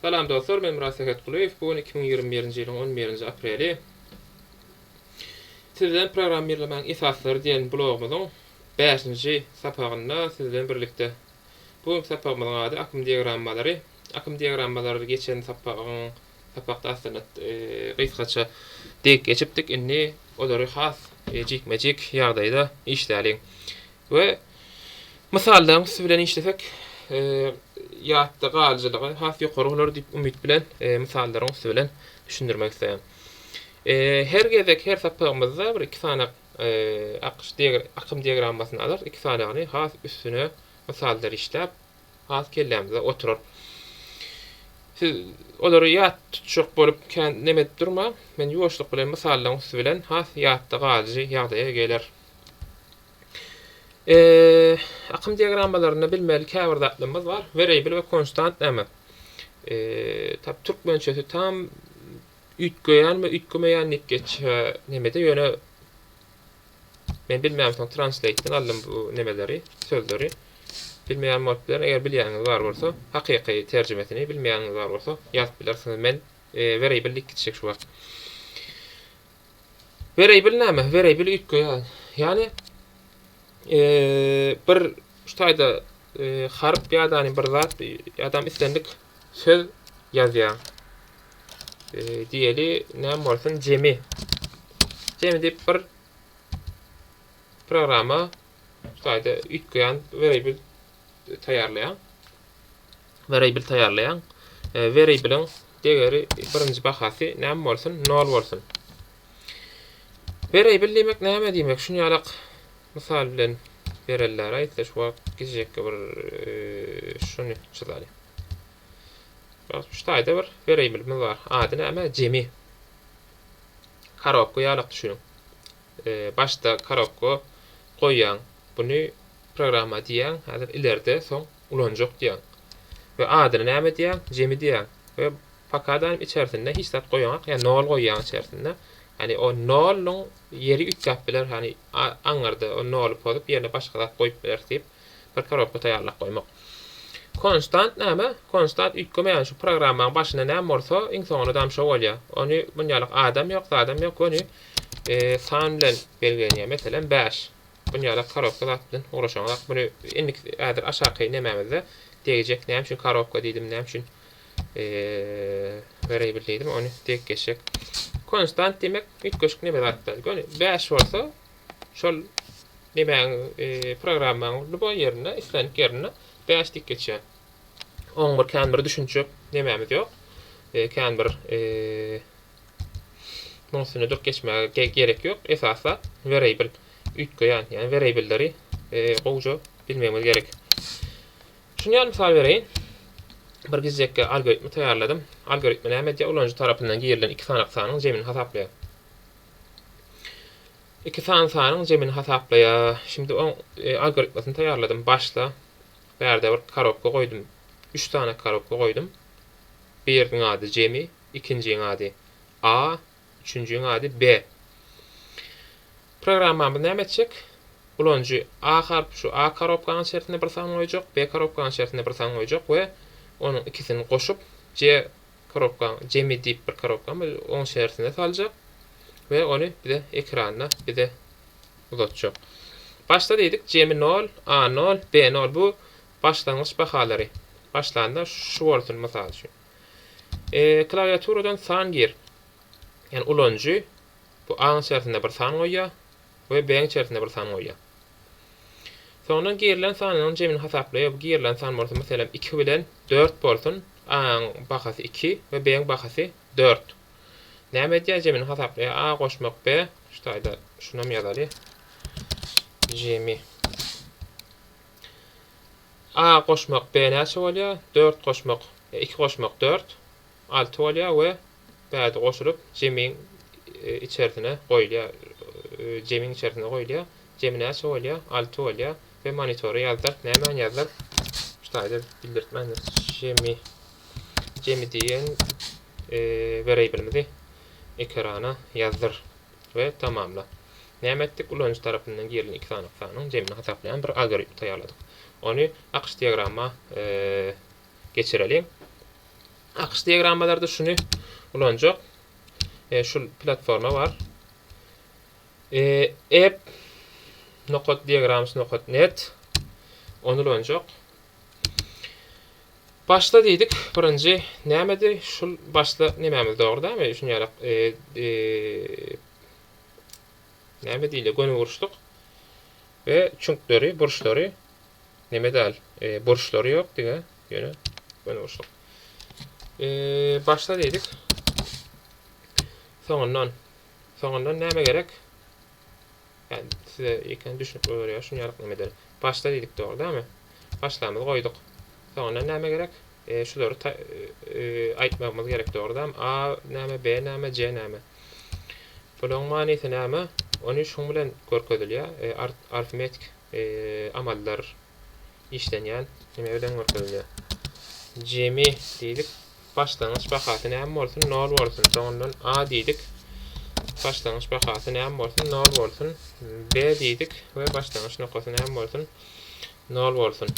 Salam dostlar men Myrat Sähetgulyýew bu gün iki müň ýigrimi birinji ýylyň on birinji apreli Siz bilen programmirlemäň esaslary diýen blogumyzyň bäşinji sapagynda siz bilen birlikde bu günki sapagymyzyň ady akym diagrammalary akym diagrammalary geçen sapagyň sapakda aslynda gysgaça degip geçipdik indi olary has jikme jik ýagdaýda işläliň we Mysalda üsti bilen işlesek, ýatda galyjylygy has ýokary bolar diýip umyt bilen mysallaryň üsti bilen düşündirmek isleýän. Her gezek her sapagymyzda bir iki sanak akyş akym diagrammasyny alar, iki sanagyny has üstüne mysallar işläp has kellämizde oturar. Siz olary ýat tutjak bolup kän neme edip durmaň, men ýuwaşlyk bilen mysallaryň üsti bilen has ýatda galyjy ýagdaýa geler. E, akym diagrammalarynda bilmeli käbir zatlarymyz bar. Weriable we konstant näme? E, tap türkmençesi tam üýtgeýän we üýtgemeýän diýip geçýä nemede ýöne men bilmeýän soň translate-den aldym bu nemeleri, sözleri. Bilmeýän bolup biler, eger bilýäniňiz bar bolsa, hakyky terjimesini bilmeýäniňiz bar bolsa ýazyp bilersiňiz. Men e, weriable diýip gitjek şu wagt. Wereýbil näme? Wereýbil üýtge ýaly. Ýagny bir şu taýda harp ýa-da bir zat ýa-da islendik söz ýazýaň. Diýeli, näme bolsun, jemi. Jemi diýip bir programa şu taýda üýtgeýän wereýbil taýýarlaýaň. Werible taýýarlaýaň. Werible-iň degeri birinji bahasy näme bolsun? Nol bolsun. Werible diýmek näme diýmek? Şuny ýalak mysal bilen bereller aýtsa şu wagt gijekge bir şuny çyzaly. Şu taýda bir werible-miz bar. Ady näme? Jemi. Karobka ýalak düşüniň. Başda karobka goýýaň. Buny programma diýýäň. Häzir ileride soň ulanjak diýýäň we adyny näme diýýäň, Jemi diýýäň we pakadanyň içersinde hiç zat goýaňok, ýa nol goýýaň içersinde, ýani o noluň ýeri üýtgäp biler, ýani aňyrda o noly pozup ýerine başga zat goýup bileris diýip bir korobka taýýarlap goýmak. Konstant näme? Konstant üýtgemeýän şu programmaň başynda näme bolsa iň soňunda dam şo bolýar. Ony munýalak adam ýok, zadam ýok, göni san bilen belgilenýär, meselem bäş. Dünýäde korobka zat bilen ugraşaňyzak. Muny indik häzir aşaky nemämizde degjek. Näme üçin korobka diýdim, näme üçin Variable diýdim, ony degip geçjek. Konstant diýmek üýtgeşik neme zatlar. Göni 5 bolsa şol nemäň programmaň lüboý ýerinde, islendik ýerinde 5 degip geçýär. 11 kän bir düşünjek nemämiz ýok. Kän bir Munuň üstünde durup geçmäge gerek ýok. Esasy zat werabil üýtgeýän, ýagny werabilleri gowja bilmegimiz gerek. Şuny ýaly mysal bereýin. Bir gizekki algoritmi taýýarladym. Algoritmi näme edýär? Ulanyjy tarapyndan girilen iki sanak sanyň jemini hasaplaýar. Iki san sanyň jemini hasaplaýar. Şimdi oň algoritmasyny taýýarladym. Başda bärde bir korobka goýdum. Üç sany korobka goýdum. Biriniň ady jemi, ikinjiň ady A, üçünjiň ady B. Programmamyz näme etjek? Ulanyjy A harp şu A korobkanyň içerisinde bir san goýjak, B korobkanyň içerisinde bir san goýjak we onuň ikisini goşup C korobkanyň jemi diýip bir korobkamy oň içerisine saljak we ony bize ekranda bize uzatjak. Başda diýdik jemi nol, A nol, B nol bu başlangyç bahalary. Başlanda şu bolsun mysal üçin. Klawiaturadan san gir. Ýagny ulanyjy bu A-nyň içerisinde bir san goýýar we B-nyň içerisinde bir san goýýar. Soňundan girilen sanlaryň jemini hasaplaýar. Bu girilen san bolsa, meselem, iki bilen dört bolsun. A-nyň bahasy iki we B-nyň bahasy dört. Näme edýär? Jemini hasaplaýar. A goşmak B. Şu taýda şunam ýazaly. Jemi. A goşmak B näçe bolýar? Dört goşmak iki goşmak dört, alty bolýar we bärde goşulyp jemiň içersine goýulýar. Jemiň içersine goýulýar. Jemi näçe bolýar? Alty bolýar we monitora ýazdyr. Nämeni ýazdyr? Şu taýda bildirtmändir. Jemi jemi diýen weriablymyzy ekrana ýazdyr. we tamamla. Näme etdik? Ulanyjy tarapyndan girilen iki sany sanyň jemini hasaplaýan bir algoritm taýýarladyk. Ony akyş diagramma geçireliň. Akyş diagrammalarda şuny ulanjak. Şu platforma bar. App nokat diagrams nokat net. Ony ulanjak. Başda diýdik, birinji nämedi? Şul başda nemämiz dogry dämi? Düşünýärak, näme diýilýär, gönüburçluk we çüňkleri, burçlary, neme däl, burçlary ýok diýga, ýöne gönüburçluk. Başda diýdik, soňundan, soňundan näme gerek? Ýani size ýeke düşnükli bolar ýa şuny ýalyk neme eder. Başla diýdik dogry dämi? Başlamyzy goýduk. Soňundan näme gerek? Şulary aýtmagymyz gerek dogry dämi? A näme, B näme, C näme? Bularyň manysy näme? Ony şuň bilen görkezilýä arfmetiki amallar. işlenýän neme bilen görkezilýär. Jemi diýdik. Başlangyç bahasy näme bolsun? Nol bolsun. Soňundan A diýdik. Başlangyç bahasy näme bolsun? Nol bolsun. B diýdik we başlangyç nokasy näme bolsun? Nol bolsun.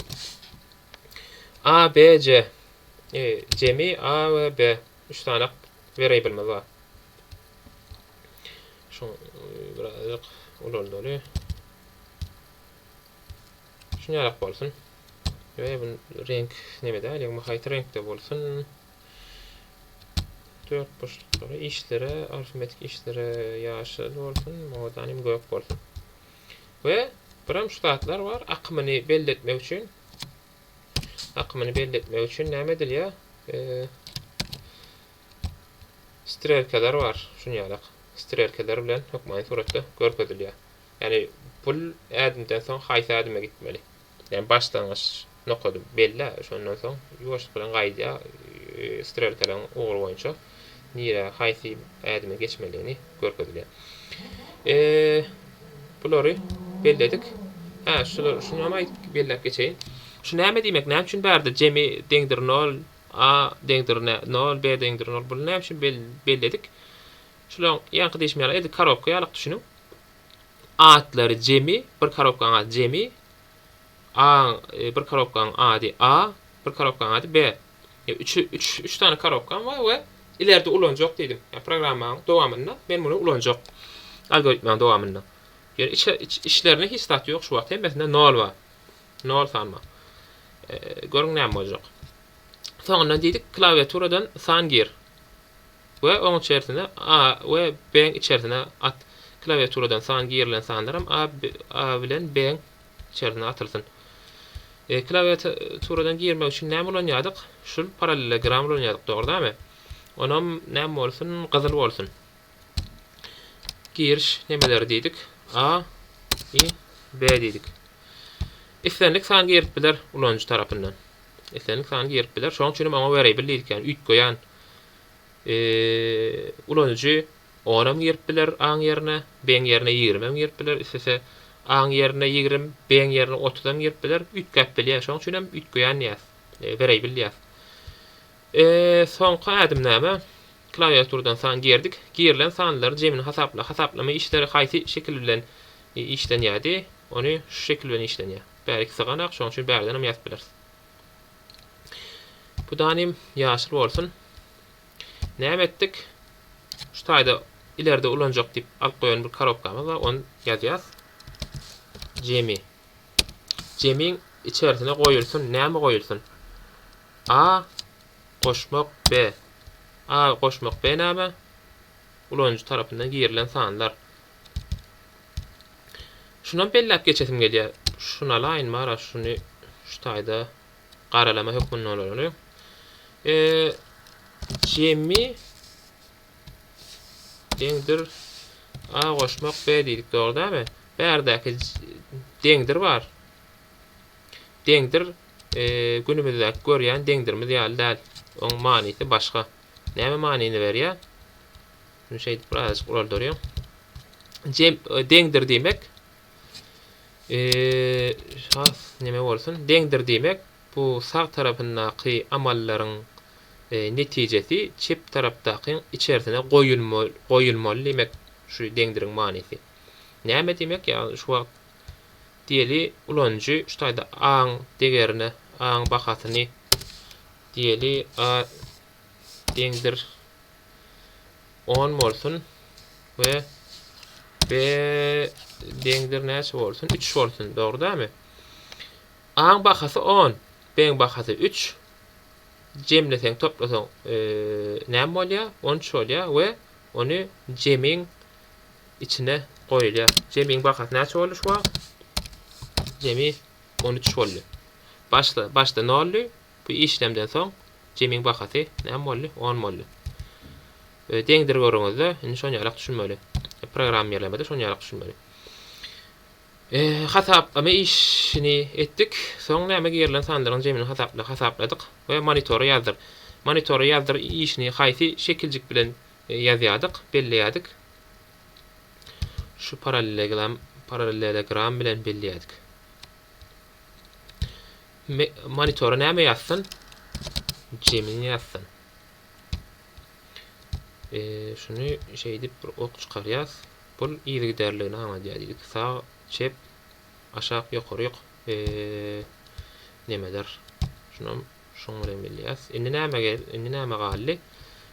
A, B, C. E, jemi A we B. Üç sany wariablymyz bar. Şu birazjyk ulaldaly. Şuny ýarak bolsun. Ýöne bu reňk neme däl, ýagny haýsy reňkde bolsun. Dört burçluklara, işlere, arifmetik işlere ýaşyl bolsun, moda hem gök bolsun. We birem şu zatlar bar, akymyny belli etmek üçin. Akymyny belli etmek üçin näme edilýär? Strelkalar bar, şuny ýarak. Strelkalar bilen hökmany suratda görkezilýär. Ýagny pul ädimden soň haýsy ädime gitmeli? Ýagny başlangyç nokady bellä, şondan soň ýuwaşlyk bilen gaýdýa strelkalaryň ugry boýunça nirä haýsy ädime geçmeligini görkezilýär. Bulary belledik. Hä, şular şuny hem aýdyp belläp geçeýin. Şu näme diýmek? Näme üçin bärde jemi deňdir nol, a deňdir nol, b deňdir nol? Buny näme üçin belledik? Şulaň ýaňky diýşim ýaly edil korobka ýalyk düşüniň. Atlary jemi, bir korobkaň ady jemi. A-yň bir korobkaň ady A, bir korobkaň ady B. Ýa üçi üç üç sany korobkam bar we ileride ulanjak diýdim. Ýa programmaň dowamynda men muny ulanjak. Algoritmaň dowamynda. Ýöne iç iç içlerinde hiç zat ýok şu wagt hemmesinde nol bar. Nol san bar. Görüň näme boljak. Soňundan diýdik klawiaturadan san gir. we oň içerisine A we B-iň içerisine at, klawiaturadan san girilen sanlaram A, A bilen B-iň içerisine atylsyn. E, klawiaturadan girmek üçin näme ulanýardyk? Şul parallelogram ulanýardyk, dogry-damy? Onam näme bolsun? Gyzyl bolsun. Giriş nemeleri diýdik? A, I, B diýdik. Islendik san girip biler ulanyjy tarapyndan. Islendik sany girip biler. Şoň üçin hem oňa variable diýdik, ýagny üýtgeýän ulanyjy onam girip biler aň ýerine, beň ýerine ýigrimem girip biler, islese aň ýerine ýigrim, beň ýerine otuzam girip biler, üýtgäp bilýär, şoň üçin hem üýtgeýän diýýäs, variable diýýäs. Soňky ädim näme? Klawiaturadan san girdik, girilen sanlaryň jemini hasapla, hasaplama işleri haýsy şekil bilen işlenýärdi, ony şu şekil bilen işlenýär, bäriki syganak, şoň üçin bärden hem ýazyp bileris. Bu danym ýaşyl bolsun. Näme etdik? Şu taýda ileride ulanjak diýip alyp goýan bir korobkamyz bar, ony ýazýas. Jemi. Jemiň içerisine goýulsun, näme goýulsun? A goşmak B. A goşmak B näme? Ulanyjy tarapyndan girilen sanlar. Şunam belläp geçesim gelýär. Şunalaýyn bara şuny şu taýda garalama hökmünde olary. E, jemi deňdir A goşmak B diýdik, dogry dämi? Bärdäki deňdir bar. Deňdir e, günümizdäki görýän deňdirimiz ýaly däl. Oň manysy başga. Näme manyny berýär? Indi şeýdip birazajyk uraldyryň. Jem deňdir diýmek. Eee, has näme bolsun? Deňdir diýmek, bu sag tarapyndaky amallaryň e, netijesi çep tarapdakyň içersine goýulma, goýulmaly diýmek. Şu deňdiriň manysy. Näme diýmek? Ýagny şu wagt diýeli ulanyjy şu taýda A-yň degerine, A-yň bahasyny diýeli A deňdir on bolsun we b deňdir näçe bolsun üç bolsun dogry dämi aň bahasy on beň bahasy üç jemleseň toplasaň e, näme bolýar on üç bolýar we ony jemiň içine goýulýar jemiň bahasy näçe boldy şu wagt jemi on üç boldy başda başda nolly Bu işlemden soň jemiň bahasy näme boldy? On boldy. Öe deňdir görüňizde, indi şon ýalak düşünmeli. Programmirlemede şon ýalak düşünmeli. Öe hasaplama işini etdik. Soň näme girilen sanlaryň jemini hasapla hasapladyk we monitora ýazdyr. Monitora ýazdyr işini haýsy şekiljik bilen ýazýardyk, belleýärdik? Şu parallelogram parallelogram bilen belleýärdik. Monitora näme ýazsyn? Gemini ýazsyn. E, şuny şeýdip bir ok çykarýas. Bul yzygiderligini aňladýar diýdik. Sag, çep, aşak, ýokary, ýok. E, nemedir? Şunam şuň bilen bilýäs. Indi näme gel? Indi näme galdy?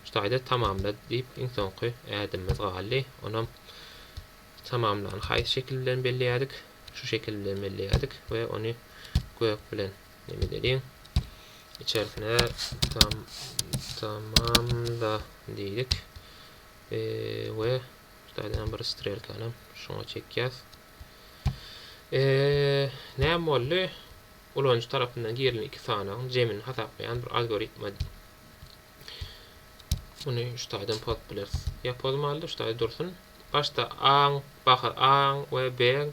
Şu taýda tamamla diýip iň soňky ädimimiz galdy. Onam Tamamlan. Haýsy şekil bilen belleýädik? Şu şekil bilen belleýädik we ony gök bilen nemedeliň. Içerisine tam tamamla diýdik. E, we şulardan bir strelkany şoňa çekýäs. E, näme boldy? Ulanyjy tarapyndan girilen iki sanagyň jemini hasaplaýan bir algoritma. Muny şulardan pozup bileris. Ýa pozmalydy, şularda dursun. Başda A-yň baha A-yň we B-yň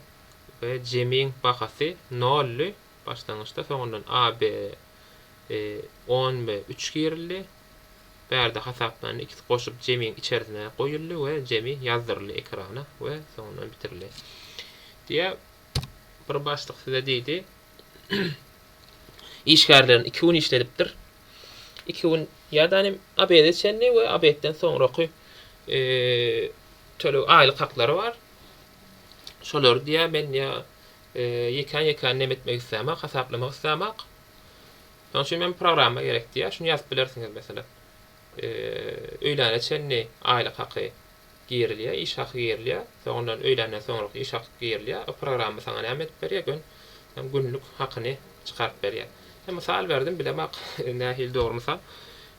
we jemiň bahasy noldy. Başlangyçda soňundan A, B, e, on we üç girildi. Bärde hasaplandy. Ikisi goşup jemiň içerisine goýuldy we jemi ýazdyryldy ekrana we soňundan bitirildi. Diýe bir başlyk size diýdi. Işgärlerini iki gün işledipdir. iki gün ýadany obede çenli we obedden soňraky töleg aýlyk haklary bar. Şolary diýä men ýa ýekän ýekän nem etmek islämak, hasaplamak islämak. Şonuň üçin men programma gerek diýä. Şuny ýazyp bilersiňiz meselem. Öýläne çenli aýlyk haky Girilýär, iş haky girilýär. Soň ondan öýländen soňraky iş haky girilýär. O programma saňa näme edip berýär? Gön hem günlük hakyny çykaryp berýär. Hem mysal berdim, bilemok nähili dogry mysal.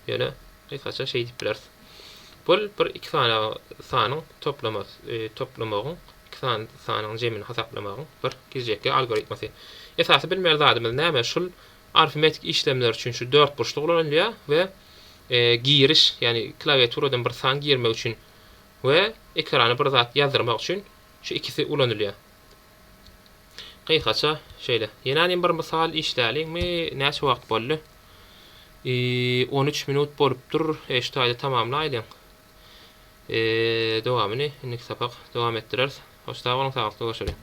Ýöne gysgaça şeý diýip bileris. Bul bir iki sany sanyň toplamasy, toplamagyň iki sany sanyň jemini hasaplamagyň bir girjekki algoritmasy. Esasy bilmeli zadymyz näme? Şul arifmetik işlemler üçin şu dörtburçluk ulanylýar we giriş, ýagny klawiaturadan bir san girmek üçin we ekrana bir zat ýazdyrmak üçin şu ikisi ulanylýar. Gysgaça şeýle. Ýene hem bir mysal işläliňmi? Näçe wagt boldy? On üç minut bolupdyr. Şu taýda tamamlaýlyň. Dowamyny indiki sapak dowam etdireris. Hoş sag boluň, sagatlyk görüşeli.